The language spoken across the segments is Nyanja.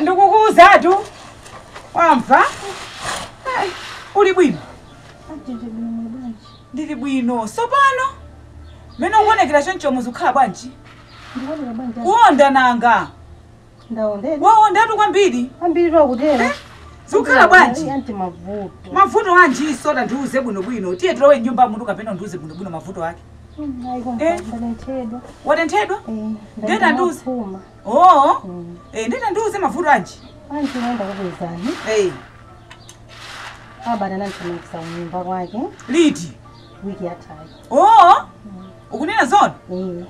ndikukuuzatu wamva Eh, uli bwino ndili bwino sopano mene ukuonekera chonchomu zikukhala bwanji Ndikuoneka bwanji? kuonda nanga Ndaondeka. waondatu kwambiri Ambiritu akutero. zikukhala bwanji Anti mavuto. mavuto anjinso tandiuze bwinobwino tiye tilowe mnyumbamutu kapena undiuze bwinobwino mavuto ake Mm, ayi koma Eh. ndatenthedwa. watenthedwa Eh, Ndenda ndaenda nduzi. mapuma. oo Mm. Eh, ndiye tandiuze mavuto anji Anti nde ndakupezani. Eh, Abana anandithamangisa kunyumba kwake liti wiki yathayi. oo Ukunena zoona? Eh.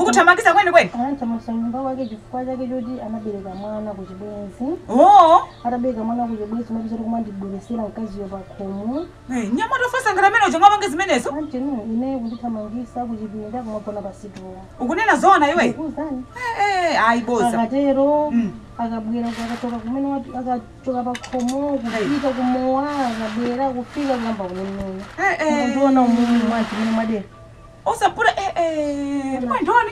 Ukuthamangisa kwene kwene? Anandithamangisa nyumba kwake chifukwa chake choti anabereka mwana ku chibwenzi. Oh. Atabereka mwana ku chibwenzi mapita kuti kumandibweresera mkaziyo pakhomo. Eh, mnyamata ofatsa ngati amene uja angapange zimenezo? Anti no, ine kundithamangisa ku chipinda kumagona pa situlo. Ukunena zoona iwe? Ndikuwuzani. Eh, eh, ayi boza. Akatero, Mm. akabwera akachoka kumene wati- aka- kuchoka pa khomo kupita ku mowa akabwera kufika kuyamba kundimenya ndiona umumu mwazi mene mwadera osapura kumandoni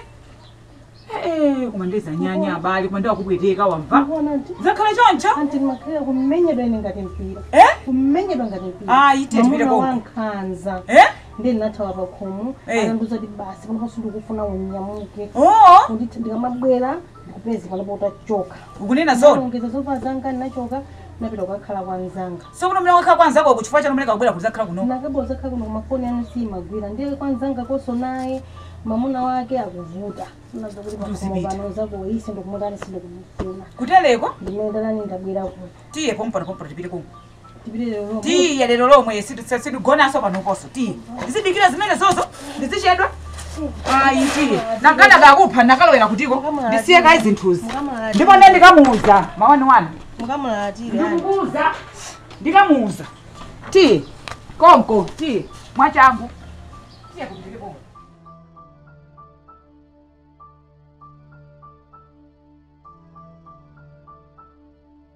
koma nde zanyanya abale koma nde akupweteka wamva akuona nti zakhala choncho anti ndimakhalira kumenyedwa ine ngati mpira Eh? kumenyedwa ngati mpira ayi tete Mwamuna piteko wankhanza eh ndiye ndinathawa pa khomo Eh. anandiuza kuti basi panopa sindikufuna unyamuke oo Kuti ndikamabwera ndikupeze panopo utachoka ukunena zona ndalongeza zovala zanga ndinachoka ndinapita kukakhala kwa mzanga sokuno mene wakhala kwa nzakoko chifukwa chani mene kakubwera kuzakhala kuno nakabwera kuzakhala kuno koma mafoni anu simagwira ndiye kwa mzangakonso naye mamuna wake akuvuta anamuuza kuti pakhomo Uzipita. pano nzakoyu sindikumutani sindikumufuna kutereku ndimene ndatani ndabwera kuno tiye pompano pompano tipite konko Tipite lero lomwe. tiye lero lomwe sititse- sitigonanso panoponso tiye ndizidikira zimenezozo ndizichedwa ayi tiye nanga anakakupha nakalowera kutiko ndisiye kayi zinthuzi Mukamulalatira. ndipo ine ndikamuuza mawani wani Mukamulalatira. yani. ndikukuuza ndikamuuza tiye konko tiye mwachangu tiye tipite konko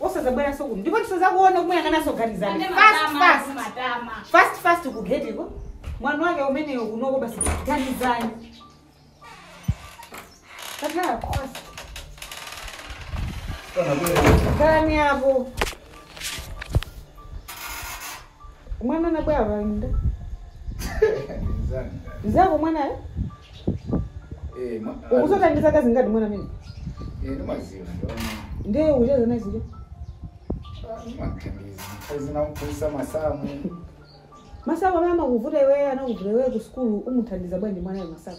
osazabweranso kuno ndipo ndisazakuone kumuyang'ananso ganizani Ande fast matama, fast matama. fast fast kugetiko mwana wake umeneyo kunoko basi ganizani kakhala fast Kana bwera. khalani apo Mwana anabwera pali ndani? Mzako mwanayo? Ukudziwa ndi zaka zingati mwana amene? Ndiye ukucheza naye zija? ndimamphunzitsa masamu Masamu amene amakuvuta iweyo anakuvuta iweyo ku sukulu umuthandiza bwanji mwanayo masamu?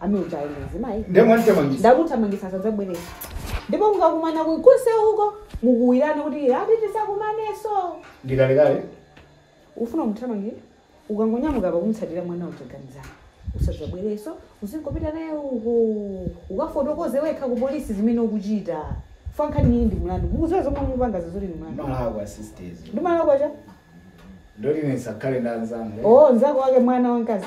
amene uja ndi mzimayi ndiye mwandithamangisa ndakuthamangisa sadzabweranso ndipo mukakumana kunja uko mukauzane kuti ati tisakumanenso ndikalekale ufuna kumthamangira ukangonyamuka apa kumtsatira mwana uja ganiza usadzabwerenso uzingopita naye uko ukafotokoze wekha ku polisi zimene ukuchita chifukwa nkhani iyi ndi mlandu mukuziwa zomwe mupanga zoti ndi mlandu mwana wa asisitazi ndi mwana kwa chani ndiye kuti nisakhale ndanzanga o nzako wake mwana wamkazi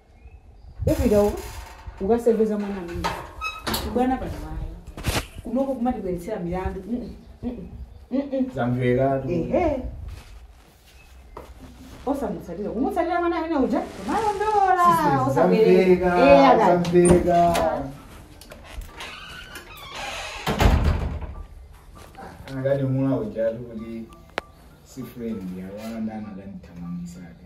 Upita uko ukasewenza mwana amene ubwana pano ayi kunoko kumatikwezetsera milandu Mm, mm, mm, mm. zamvekatu ehe osamutsatira kumutsatira mwana amene uja kumalondola osabereka Eh, akati. zamveka anakati mwana ujatu kuti si friend yawana ndiye anakandithamangisa ake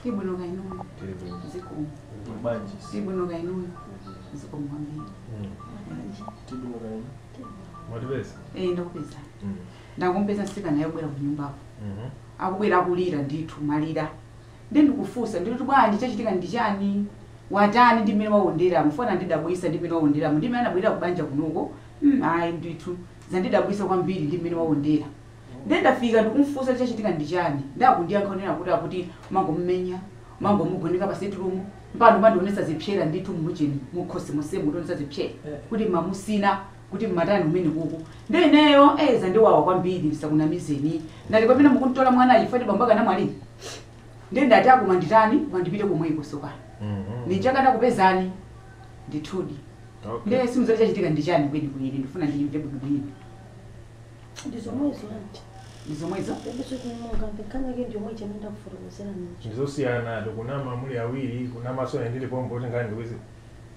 Ndili bwino kaya inuyo. Zikomo. Bwanji. Ndili bwino kaya inuyo. Zikomo kwambiri. Mwatipeza? Eh, ndakupeza. Ndakumpeza msikana wabwera ku nyumbako. Akubwera kulira ndithu kulira. Ndiye ndikumfunsa, ndikuti bwanji, chachitika ndi chani? Watani ndi mmene wawonderamu? Chifukwa anandidabwitsa ndi mmene wawonderamu, ndi mmene anabwelera ku banja kunoko, mm ayi ndithu, zandidabwitsa kwambiri ndi mmene wawondera. Ndiye ndafika ndikumfunsa kuti chachitika ndi chani, ndiye akundiyankha kunena kuti akuti mumangomumenya, mumangomugoneka pa sitirumu, mpaka ndi kumandionetsa zipsera ndithu mu ujeni, mu khosi monsemu, kundionetsa zipsera kuti mumamutsina. kuti mmatani kumenekuku nde ineyo eh zandiwawa kwambiri ndisakunamizeni ndati pamene munkamtola mwanayi chifukwa ti bambo ake anamwalira nde ndati a, kuti nditani koma ndipite komweko tsopano Mhm. ndichoka ndikakupezeni ndithudi Okay. nde simudziwa kuti chachitika ndi chani kweni kweni ndifuna ndiyimve bwino bwino ndizomwezo anti ndi zomwezo e basi tingoyamba nkhani yake ndiyomwe imene ndakufotokozera ninji ndizosiyana mukunama muli awiri kunamaso nendili pompo kuti nkhani ndikuzi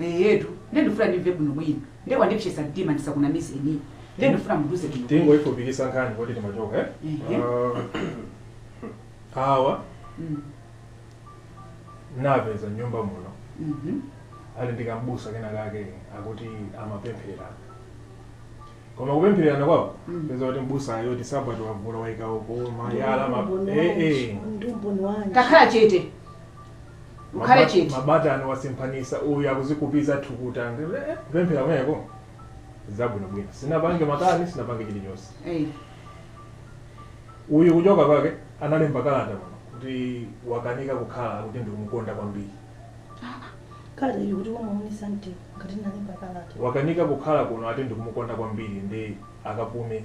Eeetu nde ndufuna ndimve bwino bwino nde mwandipsesa mtima ndisakunamizeni nde ndufuna munduze bwino bwino. tingoyifupikisa nkhani kuti timachokera eh? Ehe. Ah, awa Mm, napeza nyumba muno mhm. ali ndi kambusa kena kake akuti amapemphererana koma kupemphererana kwawo Mm. peza kuti mbusayo malaya wavula waika uko malaya ma- eh, eh. ndi umboni wanji takhala chete Mukhale Maba- chete. mabatani wasemphanisa uyu akuzikupiza thukuta Ndi- eh, eh, kupemphera kumeneko zabwinobwino sinapange makani sinapange chilichonse Eh. uyu kuchoka kwake analemba kalata pano kuti wakanika kukhala kuti ndikumukonda kwambiri kalata ili kuti wamuonetsa ndani ngati nalemba kalata wakanika kukhala kuno ati ndikumukonda kwambiri ndi akapume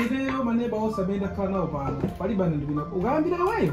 ineyo maneba osamenyana khala nawo pano palibe anandipinda ukayambira iweyo